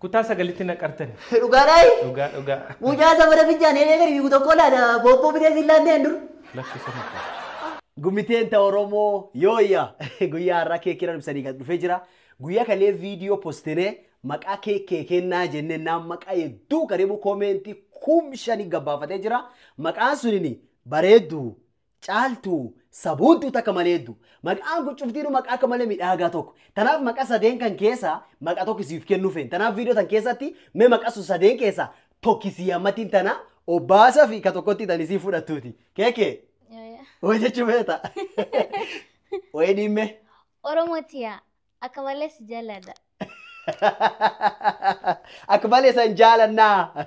Kutaa sagalitti naqartani. Dhugaa dhaayi. Dhugaa dhugaa. Mucaa safara fincaan heenee gadi fiigu tokko laata boobboo bitee siin laanneen dur. Lakki sirna qaba. Gumiteen ta Oromoo yooyya guyyaa har'aa keekii irra ibsanii gad dhufee jira. Guyyaa kalee viidiyoo postinee maqaa keekee kennaa jennee naan maqaa hedduu karibu koomeentii kum shanii gabbaafatee jira. Maqaan sunini bareedduu Caaltu saboontuu takka maleeddu. Maqaan kun cuftiinuu maqaa akka malee midhaagaa tokko. Tanaaf maqa sadeen kan keessa maqa tokko siif kennuu feena. Tanaaf viidiyoo tan keessatti mee maqa sun sadeen keessa tokki sii hammattiin tana obbaasa fi ka tokkotti tan isii fudhattuuti. Keeke hoo jechuu feeta. Wayii dhiimme. Oromoo tiyaa akka malee si jaalladha. Akka malee san jaalannaa.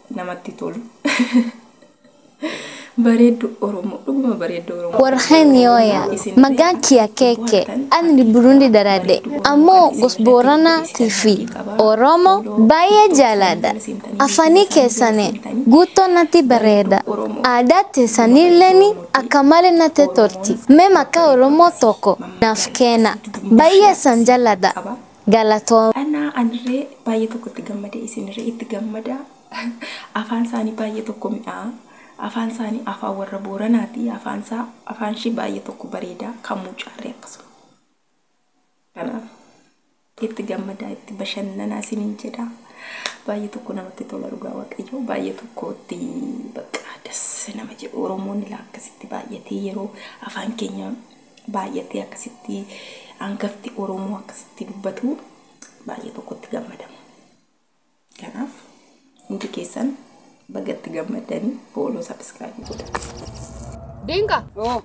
namatti tolu bareeddu oromoo dhuguma bareeddu oromoo Warqeen yooya magaan kiya keeke anni burundi darade ammoo gos boorana tifi oromo baay'ee jaalaadha afanii keessane guuttoo natti bareeda aadaa teessanilleeni akka malee natti tolti mee maqaa oromoo tokko naaf keena baay'ee san jaladha Galatoom. Anaa anirree baay'ee tokko itti gammade isinirree itti gammada afaan isaanii baay'ee tokko mi'aa afaan isaanii afaan warra booranaati afaan isaa afaan ishii baay'ee tokko bareeda kan mucaarree akkasuma kanaaf itti gammadaa itti bashannanaa isiniin jedha baay'ee tokko namatti tola dhugaa waaqayyoo baay'ee tokko itti bakka das nama jedhu oromoon ilaa akkasitti baay'atee yeroo afaan keenya baay'attee akkasitti hangafti Oromoo akkasitti dubbatu baay'ee tokkotti gammadama. Kanaaf hundi keessan bagatti gammaddanii fooloo sabiskiraaybii godhaa. Dinka. Oo,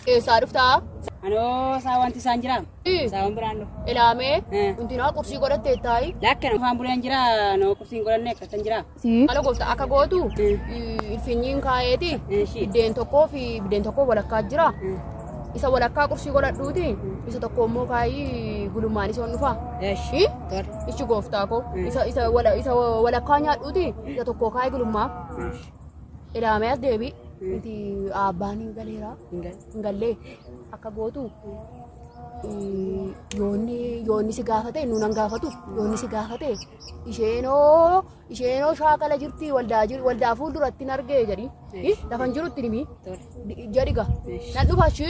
Eessaa dhuftaa? anoo saa wanti isaan jiraam. Ii. Saa waan biraan dhufu. Ilaamee. Eh. Hundinaa qursii godhattee taa'i. Lakkana afaan buleen jira, noo qubsiin godhanne akkatan jiraam. Maala goofta akka gootu ilfinyiin kaayeeti biddeen tokkoo fi biddeen tokkoo walakkaa jira. Isa walakkaa qursii godhadhuuti isa tokko immoo kaayii gulummaan isa dhufa. Ichi gooftaa koo isa isa wala- isa walakkaa nyaadhuuti isa tokko kaayii gulummaa ilaamee as deebi. Nuti abbaan hin galeera hin gallee akka gootu yoonni yoonni si gaafate nuun an gaafatu yoonni si gaafate isheenoo isheenoo shaakala jirti waldaa jir- waldaa fuulduratti hin argee jedhi Ih, lafan jirutti himi Di- jedhi ga nan dhufa shi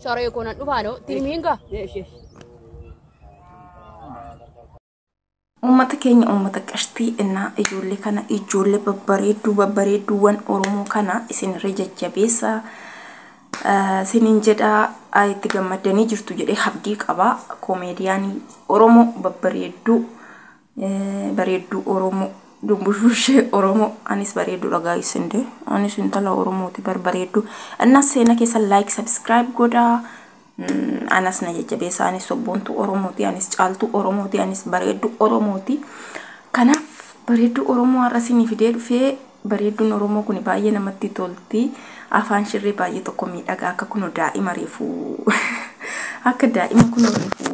saree koo nan dhufa no itti himiin ga Uummata keenya uummata qashtii innaa ijoollee kana ijoollee babbareedduu babbareedduuwwan Oromoo kana isinirra jajjabeessa sinin jedha a itti gammaddanii jirtu jedhee habdii qaba koomeediyaanii oromoo babbareedduu eh, bareedduu oromoo dumbushbushee oromoo anis bareedduu dhagaa isinde anis intala oromooti bar bareedduu innas seena keessa like subscribe godhaa Mm, anas na jajjabeessa anis sobboontuu oromooti anis caaltuu oromooti anis bareedduu oromooti kanaaf bareedduu oromoo har'a isinii fidee dhufee Bareedduun oromoo kuni baay'ee namatti tolti afaan shirree baay'ee tokko miidhagaa akka kuno daa'ima reefu akka daa'ima kuno reefu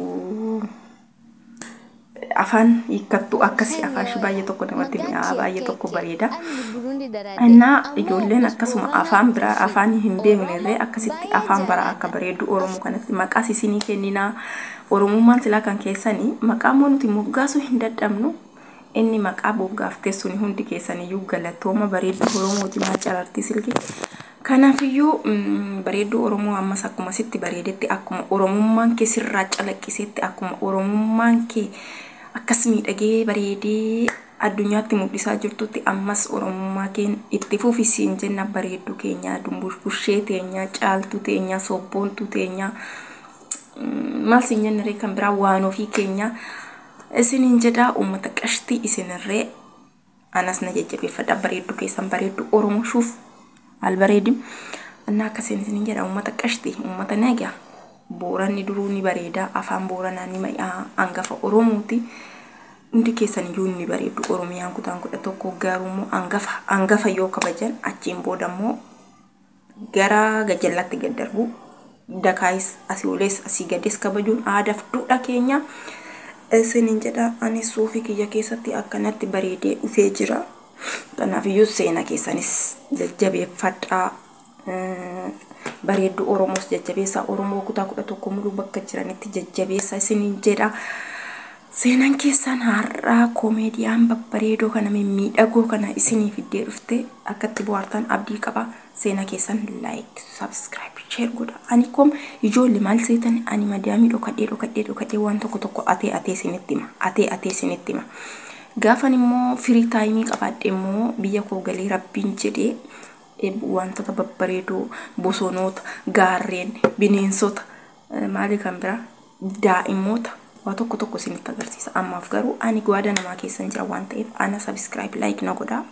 afaan hiikkattu akkasi Isaan afaan shi yaada. baay'ee tokko namatti Mataan mi'aa kee baay'ee akka tokko itti bareeda ani Burundi daraadhe. innaa Ammoo ijoolleen obbo akkasuma Booranaa afaan biraa Tawfiiq afaan hin beekne irree Oromoo akkasitti baay'een afaan baraa akka jaaladha. bareeddu oromoo kanatti maqaas isinii kenninaa oromummaan silaa kan keessanii maqaa immoo nuti moggaasuu hin dadhabnu Inni maqaa boggaaftee suni hundi keessaniyyuu galatooma bareedduu Oromooti maa carartii silki. Kanaafiyyuu mm, bareedduu Oromoo ammas akkuma sitti bareedetti akkuma Oromummaan kee sirraa calaqqisetti akkuma Oromummaan kee akkas miidhagee bareedee addunyaatti mul'isaa jirtutti ammas Oromummaa keen itti fufi siin jenna bareedduu keenyaa dumbushbushee teenyaa caaltuu teenyaa sobboontuu teenyaa mm, maal siin jenna ree kan biraa waan ofii keenyaa isinin jedha ummata qashtii isinirree anas na jajjabeeffadha bareeddu keessan bareeddu oromo shuuf albareedi anna akkasiin isinin jedha ummata qashti ummata naga booranni duruu ni bareeda afaan booranaa ni mayaa angafa oromooti hundi keessan iyyuu ni bareeddu oromiyaan kutaan kudha tokko garuu immoo angafa angafa yoo kabajan achiin booda immoo gara gajallaatti gad darbuu dakaayis asii olees asii gadees kabajuun aadaaf duudhaa keenya isiniin jedha ani suufii kiyya keessatti akkanatti bareedee dhufee jira kanaaf iyyuu seena keessanis jajjabeeffadhaa bareedduu oromoos jajjabeessaa oromoo kutaa kudha tokko muluu bakka jiranitti jajjabeessa isiniin jedha Seenan keessaan har'aa Komeediyaan babbareedoo kana mimmiidhagoo kana isinii fiddee dhufte akka itti bohaartan abdii qaba seena keessan like subscribe share godha ani kom ijoolle maal seetan ani madaamii dhokadhee dhokadhee dhokadhee waan tokko tokko atee atee isinitti hima atee atee isinitti hima gaafan immoo firii taayimii qabaadhe immoo biyya koo galee rabbiin jedhee eh, wantoota babbareedoo bosonoota gaarreen bineensota Maalii kan biraa daa'immoota waa tokko tokko isinitti agarsiisa. Ammaaf garuu ani gwaada namaa keessa hin jira waan ta'eef ana subscribe like na godhaa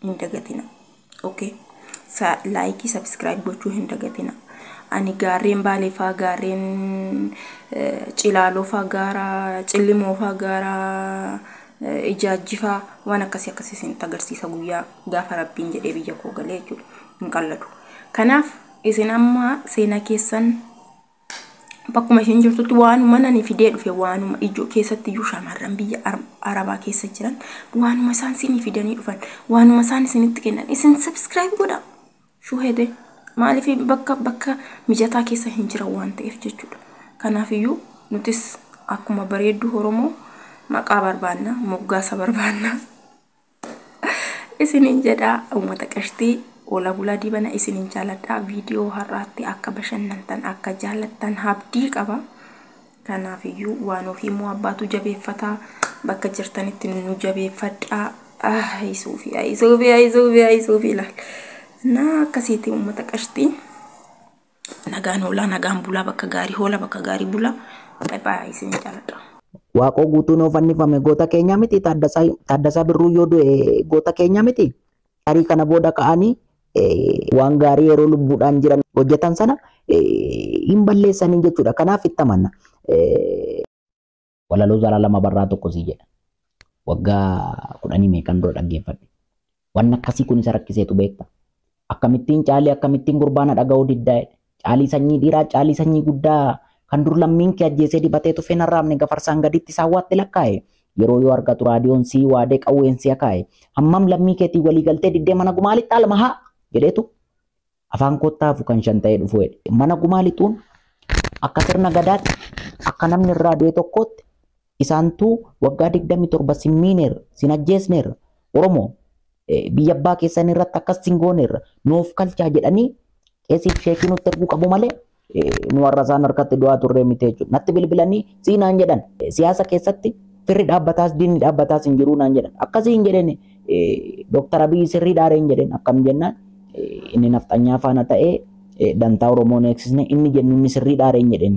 hin dagatina. Okay. Sa like subscribe gochuu hin dagatina. Ani gaarreen baalee faa gaarreen eh, cilaaloo faa gaara cillimoo faa gaara eh, ijaajjifaa waan akkasii akkasii isinitti agarsiisa guyyaa gaafa rabbiin jedhee biyya koo galee jechuudha hin qalladu. Kanaaf Isin amma seenaa keessan bakkuma isheen jirtutti waanuma nani fidee dhufe waanuma ijoo keessatti iyyuu shamarran biyya arabaa keessa jiran waanuma isaan isinii fidanii dhufan waanuma isaan isinitti kennan isin subscribe godha shuhete maaliif bakka bakka mijataa keessa hin jiran waan ta'eef jechuudha kanaaf iyyuu nutis akkuma bareedduu oromoo maqaa barbaanna moggaasa barbaanna. isinin jedha ummata qashtii Ola bulaa dibana isinin jaaladha viidiyoo har'aatti akka bashannantan akka jaalattan habdii qaba kanaaf iyyuu waan ofii immoo abbaatu jabeeffata bakka jirtanitti nu jabeeffadhaa ayisuufi ayisuufi ayisuufi ayisuufi ilaal na akkasiiti ummata qashtii Nagaan hoolaa nagaan bulaa bakka gaarii hoola bakka gaarii bulaa. Bye bye isin jaaladha. Waaqoo guutuu noo fannifame goota keenya miti Taaddasaa Taaddasaa Birruu yoo du'e goota keenya miti tarii kana booda ka'anii eh, waan gaarii yeroo lubbuudhaan jiran hojjetan sana eh, hin balleessanii jechuudha kanaaf itti amanna. Eh, Walaloo Zalaalam Abarraa tokko sii jedha. Waggaa kudhanii meeqan dura dhaggeeffadhe. Waan akkasii kun isa rakkiseetu beekta. Akkamittiin caalii akkamittiin gurbaana dhaga'uu diddaa jedhe. Caalii sanyii dhiiraa caalii sanyii guddaa kan dur lammiin kee ajjeesee dibatee tufeen arraabne gafarsaan gaditti isaan waatti lakkaa'e. Yeroo yoo argatu raadiyoon sii waadee qawween sii akaa'e. Hammam lammii keetiin walii galtee diddee mana gumaalitti almahaa jedheetu Afaan koottaa hafu kan shan ta'ee dhufu jedhe. Mana gumaa lixuun akka sirna gadaatti akka namni irraa du'e tokkootti isaantuu waggaa 27 sin miineerra sin ajjeesneerra Oromoo biyya abbaa keessan irratti akkas sin gooneerra nuuf kalchaa jedhanii qeesiif sheekii nutti erguu qabu malee nu warra isaan harkatti du'aa turree miti jechuudha. Natti bilbilanii sii naan jedhan siyaasa keessatti firri dhaabbataas diinni dhaabbataas hin jiruu naan jedhan. Akkasii hin jedheen Dooktar Abiyyi sirrii dhaaree hin jedheen akkam jennaan inni nafxanyaa faana ta'ee dantaa Oromoo neeksisne inni jennu inni sirrii dhaaree hin jedheen.